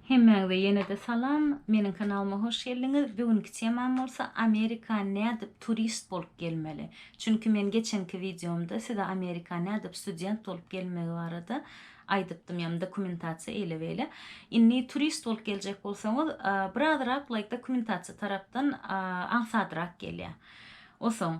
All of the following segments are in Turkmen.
Hemmäňize ýene-de salam. Meniň kanalyma hoş geldiňiz. Bugünki temam bolsa Amerika nädip turist bolup gelmeli. Çünki men geçenki wideomda size Amerika nädip student bolup gelmegi barada aýdypdym, ýagny dokumentasiýa eýle-beýle. Indi turist bolup geljek bolsaňyz, birazrak laýk dokumentasiýa tarapdan aňsadrak gelýär. Osoň,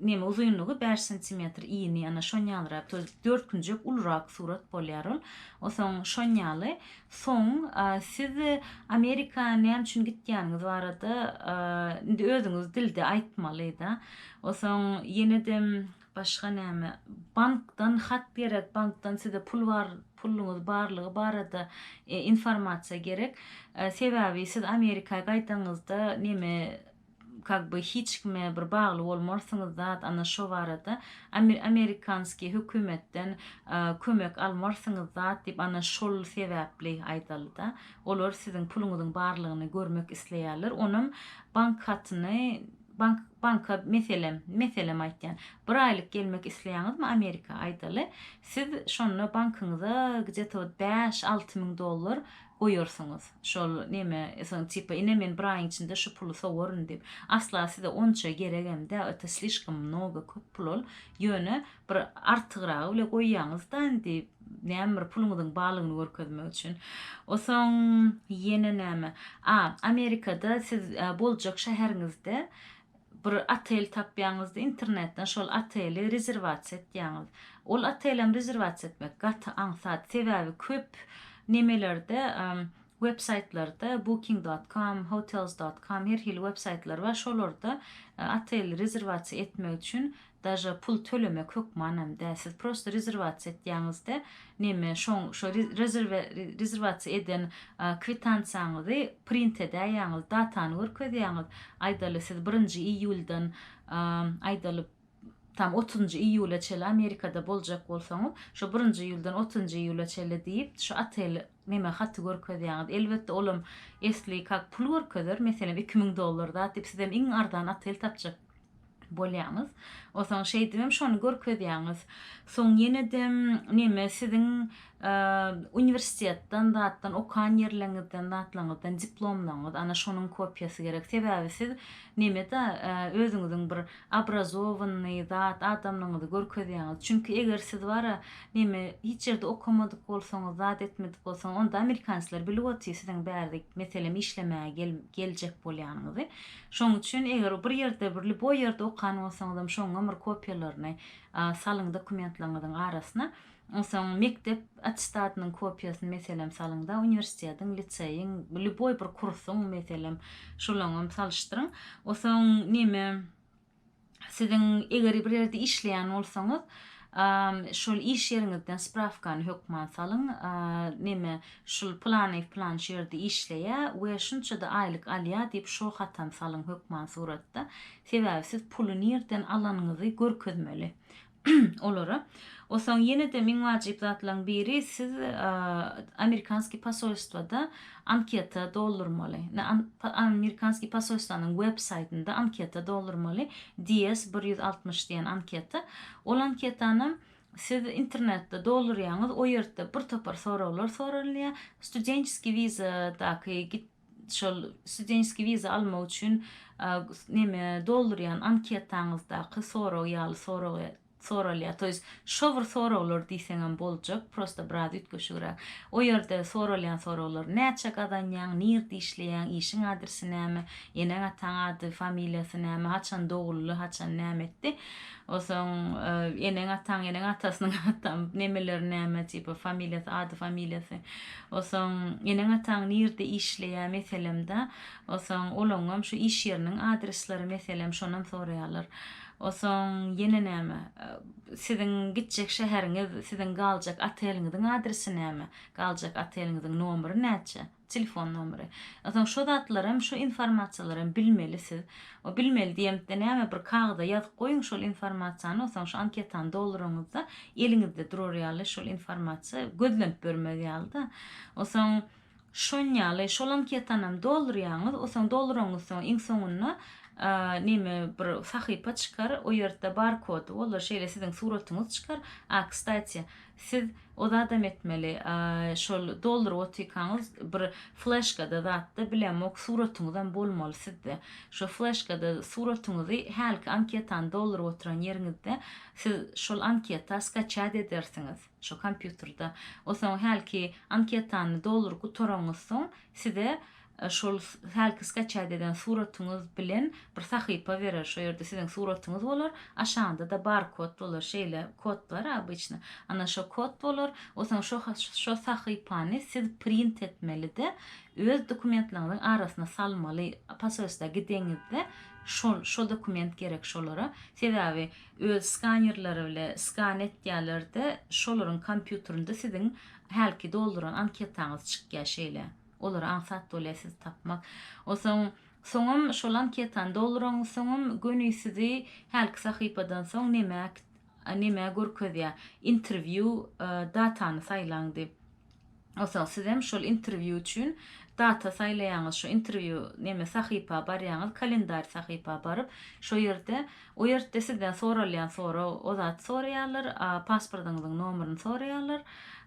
Neme uzynlygy bäş santimetr ini ana şonýalrak to dört künjek ulurak surat bolýar ol osoň şonýaly soň siz amerika näme üçin gitýäniňiz barada indi özüňiz dilde aýtmaly da osoň ýenedem başga näme bankdan hat gerek bankdan size pul bar puluňyz barlygy barada informasiýa gerek sebäbi siz amerika gaýdaňyzda neme kak by hiç kime bir bagly bolmarsyňyz zat ana şo barada amerikanskiý hökümetden kömek almarsyňyz zat diýip ana şol sebäpli aýdalyda olar siziň puluňyzyň barlygyny görmek isleýärler onam bank hatyny bank banka meselem meselem aýtýan bir aýlyk gelmek isleýäňizmi amerika aýdaly siz şonda bankyňyza gde to bäş alty müň dollar goýarsyňyz şol neme soň tipa ine men bir aýyň içinde şu puly sowaryn diýip asla size onça geregem dä öte slişkom mnogo köp pul ol ýöne bir artygragy bile goýýaňyzda indi näme bir puluňyzyň barlygyny görkezmek üçin o soň ýene näme a amerikada siz boljak şäheriňizde Bir otel tapýaňyzda internetden şol oteli rezerwasiýa etýäňiz. Ol otelem rezerwasiýa etmek gaty aňsat. Sebäbi köp nemelerde web saýtlarda booking dot com, hotels dot com her hili web saýtlar bar. Şolarda otel rezerwasiýa etmek üçin daže pul tölemek hökmanam däl siz prosto rezerwasiýa etýäňizde neme şoň şo rezerwe rezerwasiýa eden kwitansiýaňyzy print edäýýäňiz datany görkezýäňiz aýdaly siz birinji iýuldan aýdaly tam otuzynjy iýula çeli amerikada boljak bolsaňyz şo birinji iýuldan otuzynjy iýula çeli diýip şo otel neme haty görkezýäňiz elbetde olam esli kak pul görkezer meselem iki müň dollar zat diýip sizem iň arzan otel tapjak bolýaňyz. Osaň şeýdibem şony görkezýäňiz. Soň ýenedem neme siziň uniwersitetden zatdan okan ýerleriňizden zatlaňyzdan diplomlaňyz ana şonuň kopiýasy gerek. Sebäbi siz neme-de özüňiziň bir obrazowanyny zat adamlygyňyzy görkezýäňiz. Çünki eger siz bara neme hiç ýerde okamadyk bolsaňyz zat etmedik bolsaňyz onda amerikanslar bilip otyr siziň bärde meselem işlemäge geljek bolýanyňyzy. Şoň üçin eger bir ýerde birli bo ýerde okan bolsaňyzam şoňňam bir kopiýalaryny salyň dokumentleriňiziň arasyna onsoň mekdep attestatynyň kopiýasyny meselem salyňda uniwersitetiň liseýiň lýuboý bir kursuň meselem şolaňam salyşdyryň onsoň neme Siziň eger bir ýerde işleýän bolsaňyz, şol iş ýeriňizden sprawkany hökman salyň, neme, şul planyýew plançy ýerde işleýä we şunça-da aýlyk alýa diýip şo hatam salyň hökman suratda. Sebäbi siz puly nirden alanyňyzy görkezmeli. olara. Osaň ýene-de iň wajyp zatlaryň biri siz amerikanskiý posolstwada anketa doldurmaly. Amerikanskiý posolstwanyň web saýtynda anketa doldurmaly. DS bir ýüz altmyş diýen anketa. Ol anketanam siz internetde doldurýaňyz, o ýerde bir topar soraglar soralýar. Studentskiý wizadaky git şol studentskiý wiza almak üçin neme doldurýan anketaňyzdaky sorag ýaly sorag soralýar. To ýest şo bir soraglar diýseňem boljak, prosta biraz üýtgeşigräk. O ýerde soralýan soraglar näçe gazanýaň, nirde işleýäň, işiň adresi näme, eneň-ataň ady, familiýasy näme, haçan doguldy, haçan näme etdi. Osoň eneň ataň eneň atasynyň atam nemeleri näme tipa familiýasy ady familiýasy osoň eneň ataň nirde işleýä meselemda osoň olaňňam şu iş ýeriniň adresleri meselem şonam soraýalar osoň ýene näme siziň gitjek şäheriňiz siziň galjak oteliňiziň adresi näme galjak oteliňiziň nomeri näçe Telefon nomeri. Onsoň şo zatlaram, şo informasiýalaram bilmeli siz. O bilmeli diýemde näme bir kagyza ýazyp goýuň şol informasiýany, onsoň şu anketany dolduraňyzda eliňizde durar ýaly şol informasiýa gözlenip ýörmez ýaly-da. Onsoň şon ýaly şol anketanam doldurýaňyz, onsoň dolduraňyz soň iň soňunda neme bir sahypa çykar, o ýerde barkody bolar, şeýle siziň suratyňyz çykar. A kstatiýa, Siz o zadam etmeli şol dolduryp otyrkaňyz bir fleşkada zatda bilemok suratyňyzam bolmaly sizde. Şo fleşkada suratyňyzy hälki anketany dolduryp oturan ýeriňizde siz şol anketa skaçýat edersiňiz şo kompýuterda. Osaň hälki anketany dolduryp gutaraňyzsoň size şol hälki skaçat eden suratyňyz bilen bir sahypa berer, şo ýerde siziň suratyňyz bolar, aşagynda-da barkod bolar, şeýle kod bar obычno, ana şo kod bolar, o soň şo şo sahypany siz print etmeli-de, öz dokumentleriňiziň arasyna salmaly, posolstwa gideňizde şol şo dokument gerek şolara, sebäbi öz skanerleri bile skan etýärler-de, şolaryň kompýuterinde siziň hälki dolduran anketaňyz çykýar şeýle. Olary aňsat bolýar sizi tapmak. Onsoň soňam şol anketany dolduraň soňam göni sizi hälki sahypadan soň neme neme görkezýär. Interview datany saýlaň diýip. Onsoň sizem şol interview üçin data saýlaýaňyz. Şu interview neme sahypa barýaňyz, kalendarý sahypa baryp, şo ýerde O ýertde sizden soralýan sorag, o zat soraýarlar, a pasportyňyzyň nomeryny soraýarlar,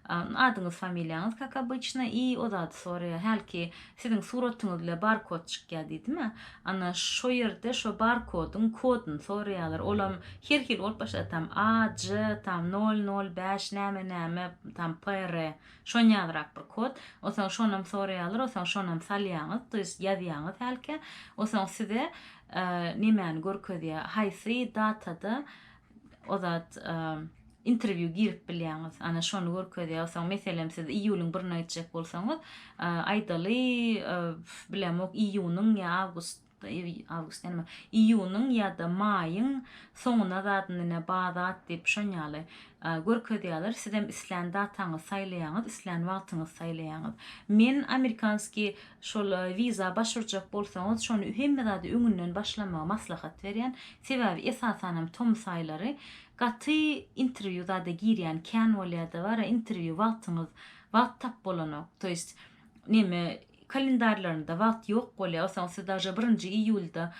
adyňyz familiýaňyz kak obyçna i o zady soraýar, hälki siziň suratyňyz bile barkod çykýar diýdimi, ana şo ýerde şo barkodyň kodyny soraýarlar, olam her hili bolup başlady tam AJ tam nol nol bäş näme näme tam PR şon ýalyrak bir kod, osaň şonam soraýarlar, osaň şonam salýaňyz, to ýest ýazýaňyz hälki, osaň size Nemäni görkezýär haýsy datada o zat interview girip bilýäňiz ana şony görkezýär soň meselem siz iýulyň birine gitjek bolsaňyz aýdaly bilemok iýunyň ýa awgust awgust näme iýunyň ýa-da maýyň soňuna zadynine bazat diýip şon ýaly görkezýärler sizem islän dataňyzy saýlaýaňyz islän wagtyňyzy saýlaýaňyz men amerikanskiý Şol wiza baş urjak bolsaňyz şony hemme zady öňünden başlamagy maslahat berýän. Sebäbi esasanam tomus aýlary gaty interwýu zada girýän kän bolýada bara interwýu wagtyňyz wagt tap bolanok to ýest neme kalendarlarynda wagt ýok bolýa olsaň siz daže birinji iýulda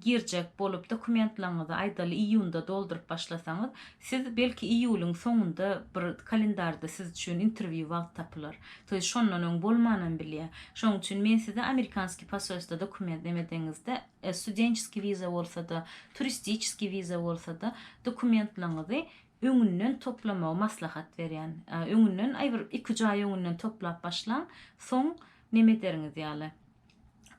girjek bolup dokumentlaňyzy aýdaly iýunda dolduryp başlasaňyz Siz belki iýulyň soňunda bir kalendarda siz üçin interwýu wagt tapylar. Toý şondan öň bolmanam bilýä. Şoň üçin men size amerikanskiý poselstwa dokument nemedeňizde, studençeskiý wiza bolsa-da, turistiçeskiý wiza bolsa-da, dokumentlaňyzy öňünden toplamagy maslahat berýän. Öňünden, aý bir iki-üç aý öňünden toplap başlaň, soň nemederiňiz ýaly.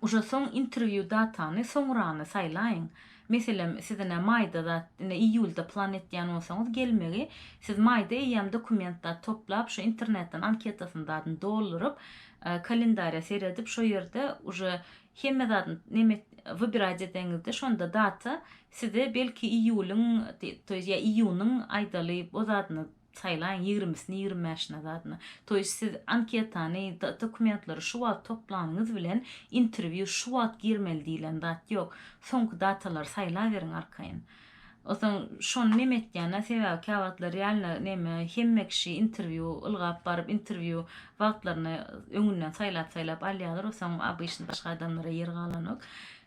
Uje soň interview datany soňrany saýlaýyň. Meselem sizine maýda zat ine iýulda plan etýän bolsaňyz gelmegi siz maýda eýýäm dokument zat toplap şu internetden anketasyny zadyny dolduryp kalendarýa seredip şo ýerde uje hemme zadyny neme et wybirać edeňizde şonda data size belki iýulyň to ýa iýunyň aýdaly o zadyny Saýlaň ýigrimisini ýigrimi bäşini zadyna. Toýs siz anketany dokumentleri şu wagt toplanyňyz bilen interwýu şu wagt girmeli diýilen zat ýok. Soňky datalary saýlaberiň arkaýyn. Osaň şony neme etýänä sebäbi käwagtlar realno neme hemme kişi interwýu ylgap baryp interwýu wagtlaryny öňünden saýlap saýlap alýalar osaň obyçny başga adamlara ýer galanok.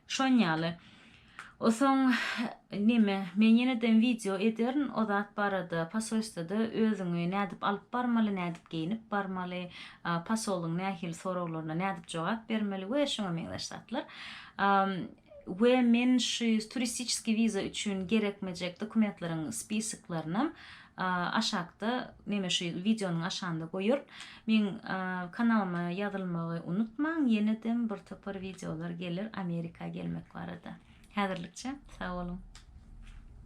Şon ýaly. O soň neme men ýeneden wideo ederin o zat barada pasolstwada özüňi nädip alyp barmaly nädip geýnip barmaly pasolyň nähili soraglaryna nädip jogap bermeli we şuňa meňzeş zatlar we men şu turistiçeskiý wiza üçin gerekmejek dokumentleriň spisoklarynam aşakda neme şu wideonyň aşagynda goýaryn. Meň kanalyma ýazylmagy unutmaň, ýenedem bir topar wideolar geler Amerika gelmek barada. Häzirlikçe sag boluň.